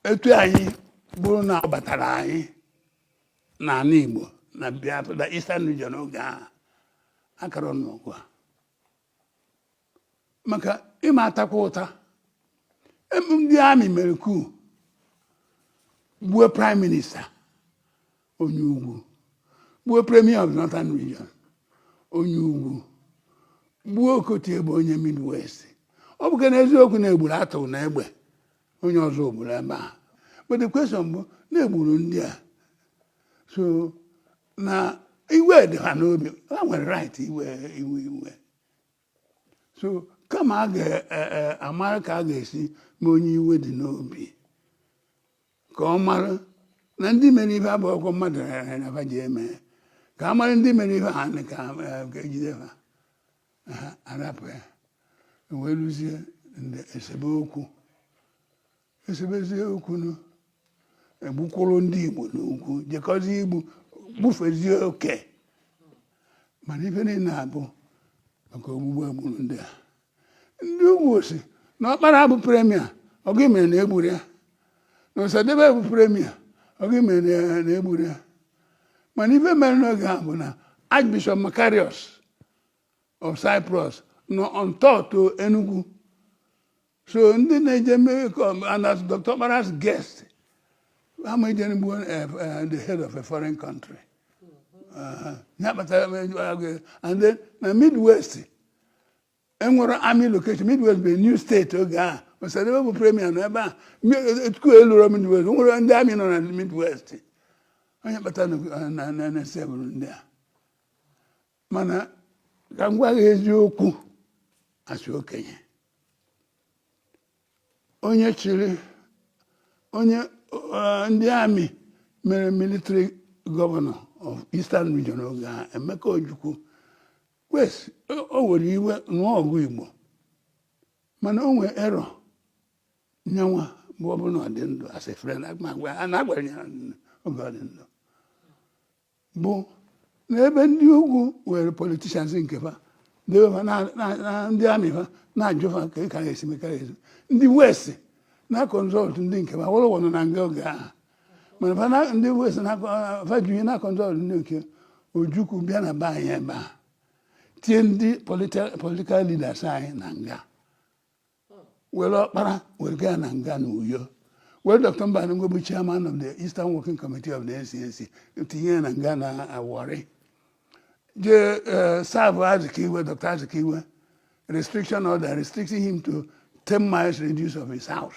etu anyị bụrụ na ọ batara anyị n'ala Igbo na Biafra na Eastern Region oge ahụ akara anụ ọgụ a maka ịma atakwa ụta Em- ndị amị mere coup gbuo prime minister onye ugwu gbuo premier of northern region onye ugwu gbuo Okotie-Eboh onye midwest ọ bụkwanụ eziokwu na egburu Arthur Unegbe onye Ozubulu ebe a but the question bụ na egburu ndị a so na iwe dị ha n'obi ha nwere right iwe iwe iwe so kama a ga-amara e, e, ka a ga-esi mee onye iwe dị n'obi ka ọ mara na ndị mere ife a bụ ọkụ mmadụ rere na ji eme ka a mara ndị mere ife a ka ejide e, ha ha arapụ ya wee lụzie ndị esebe okwu esebezie okwu nụ egbukwuru ndị Igbo n'ugwu jekọzie igbu gbufezie oke mana ife niile a bụ maka ogbugbu egburu ndị a ndị ugwu sị na Ọkpara bụ premier ọ gịnị mere na egburo ya na Ọsadebe bụ premier ọ gịnị mere na egburo ya mana ife mere n'oge a bụ na Archbishop Makarios of Cyprus nọ on tour to Enugu so ndị na-eje mmiri and as Dr. Okpara's guest ha ama eje igbu eh, eh, the head of a foreign country uh-huh. ya kpatara eh, and then na midwest enwero army location midwest bụ new state oge ahụ Ọsadebe bụ premier nọ ebe a etu coup eluro midwest enwero ndị amị nọ na midwest ọ ya kpata na-esebụrụ ndị a mana ka m gwa gị eziokwu as okenye onye chịrị onye eh, ndị amị mere military governor of Eastern Region oge a Emeka Ojukwu yes o were iwe nụọ ọgụ Igbo mana o nwee error nyanwa bụ ọ bụrụ na ọ dị ndụ as a friend na-agwara ya oge ọ dị ndụ bụ na ebe ndị ugwu were politicians nke fa debe fa na- na na ndị amị fa na-ajụ fa ka ị ka ga-esi mekara ezu ndị west na consult ndị nke fa Awolowo nọ na nga oge ahụ mana fa na- ndị west na fa ji ihe na consult ndị nke ojukwu bịa na be anyị ebe a tie ndị political leaders anyị na nga were Ọkpara were gaa na nga na uyo were dr Mbanugo bụ chairman of the eastern working committee of the ncnc tinye ya na nga na Warri jee eh, serve azikiwe dr azikiwe restriction order restricting him to 10 miles radius of his house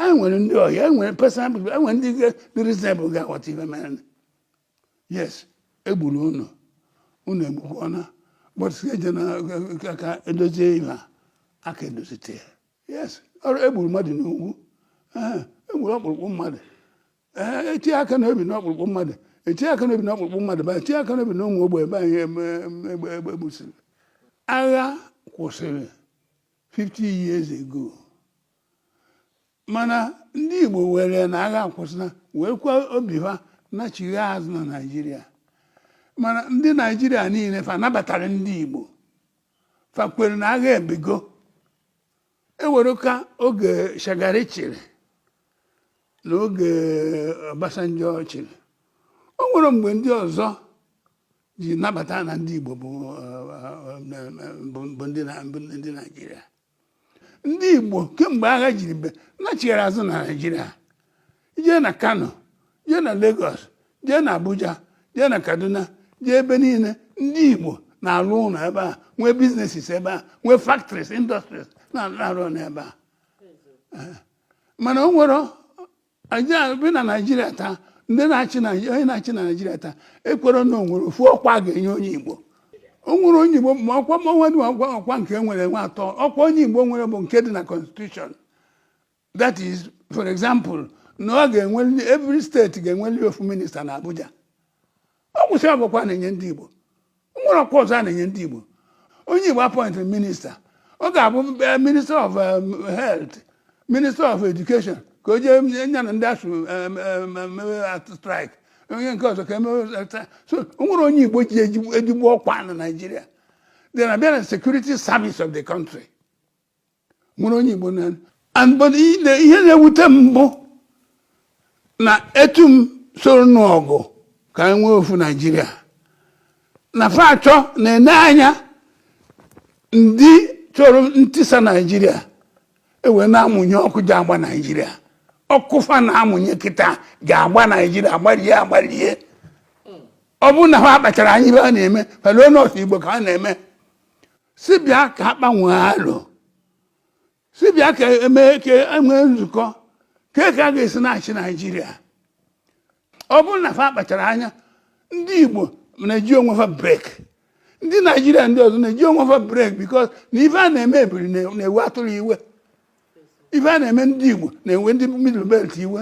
anyị nwere ndị ọhịa e nwere reasonable people e nwere ndị dị reasonable ga-aghọta ihe mere yes egburu unu unu egbukwana but eje na aka edozie ihe a ka edozite ya yes ọrụ egburu mmadụ n'ugwu ee egburu ọkpụrụkpụ mmadụ ee etinye aka n'obi n'ọkpụrụkpụ mmadụ etinye aka n'obi n'ọkpụrụkpụ mmadụ ba etinye aka n'obi na ụmụ ogbe ebe anyị eme egbe egbe gbusiri agha kwụsịrị 50 years ago mana ndị Igbo were na agha akwụsịna wee kwa obi ha nachigha azụ na Naịjirịa mana ndị Naịjirịa niile fa nabatara ndị Igbo fa kwere na agha ebigo eweruga oge Shagari chịrị na oge Obasanjo chịrị o nwere mgbe ndị ọzọ ji nabata na ndị Igbo bụ eh, eh, eh, ndị Naịjirịa ndị Igbo kemgbe agha jiri bie nachigara azụ na Naịjirịa jee na Kano jee na Lagos jee na Abuja jee na Kaduna jee ebe niile ndị Igbo na-alụ ụlọ ebe a nwee businesses ebe a nwee factories industries na-arụ n'ebe a mana o nwere bịa na naijiria taa ndị na-achị onye na-achị na naijiria taa ekwere na o nwere ofu ọkwa a ga-enye onye igbo o nwere onye igbo ma ọkwa dị ọkwa ọkwa nke nwere weight ọkwa onye igbo nwere bụ nke dị na constitution that is for example na ọ ga-enweli every state ga-enweli ofu minister na abuja ọ gwụsịa bụ ọkwa a na-enye ndị Igbo o nwere ọkwa ọzọ a na-enye ndị Igbo onye Igbo appointịrị minister ọ ga-abụ eh, minister of eh, health minister of education ka o jee nya na ndị ASUU eh, strike onye nke ọzọ ka emewe so o nwere onye Igbo ji ezigbo ọkwa na Naịjirịa then a bịa na security service of the country nwere onye Igbo nọ ya but ihe na-ewute m bụ na etu m soro n'ọgụ ka anyị nwee ofu Naijiria na fa achọ na-ene anya ndị chọrọ ntisa Naijiria ewee na-amụnye ọkụ ji agba Naijiria ọkụ fa na-amụnye kịta ji agba Naijiria agbarie agbarie ọ bụrụ na fa akpachara anya ife a na-eme fa elo na ọ sọ Igbo ka a na-eme sị bịa ka a kpawe alo sị bịa ka emee ka enwee nzukọ ka ka a ga-esi na-achị naijiria ọ bụrụ na fa akpachara anya ndị igbo na-eji onwe fa break ndị naijiria ndị ọzọ na-eji onwe fa break because na ife a na-eme ebiri na-ewe atụrụ iwe ife a na-eme ndị Igbo na-ewe ndị Middle Belt iwe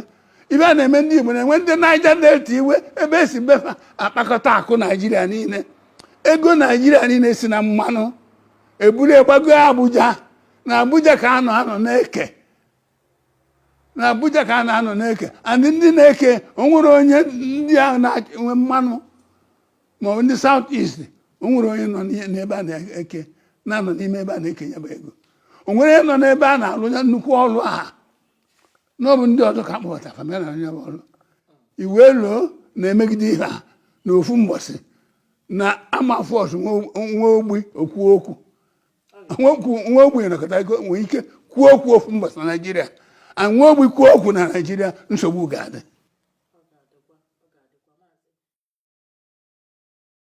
ife a na-eme ndị Igbo na-ewe ndị Niger Delta iwe ebe e si be fa akpakọta akụ Naijiria niile ego Naijiria niile si na mmanụ e buru gbago Abuja na Abuja ka a na-anọ na-eke na Abuja ka a na-anọ na-eke and ndị na-eke o nwere onye ndị ahụ na-enwe mmanụ ma ọ bụ ndị South East o nwere onye nọ n'ebe a na-eke na-anọ n'ime ebe a na-eke ya bụ ego o nwere onye nọ n'ebe a na-alụ ya nnukwu ọrụ aha na ọ bụ ndị ọzọ ka akpọbata fa bịa na ya bụ ọrụ iwe loo na-emegide ihe a na ofu mbọsị na a ma force nwa ogbi o kwuo okwu nwa ogbi nakọta ego nwee ike kwuo okwu ofu mbọsị na naijiria and nwa ogbi kwuo okwu na naijiria nsogbu ga-adị ọ ga-adịkwa ọ ga-adịkwa maazị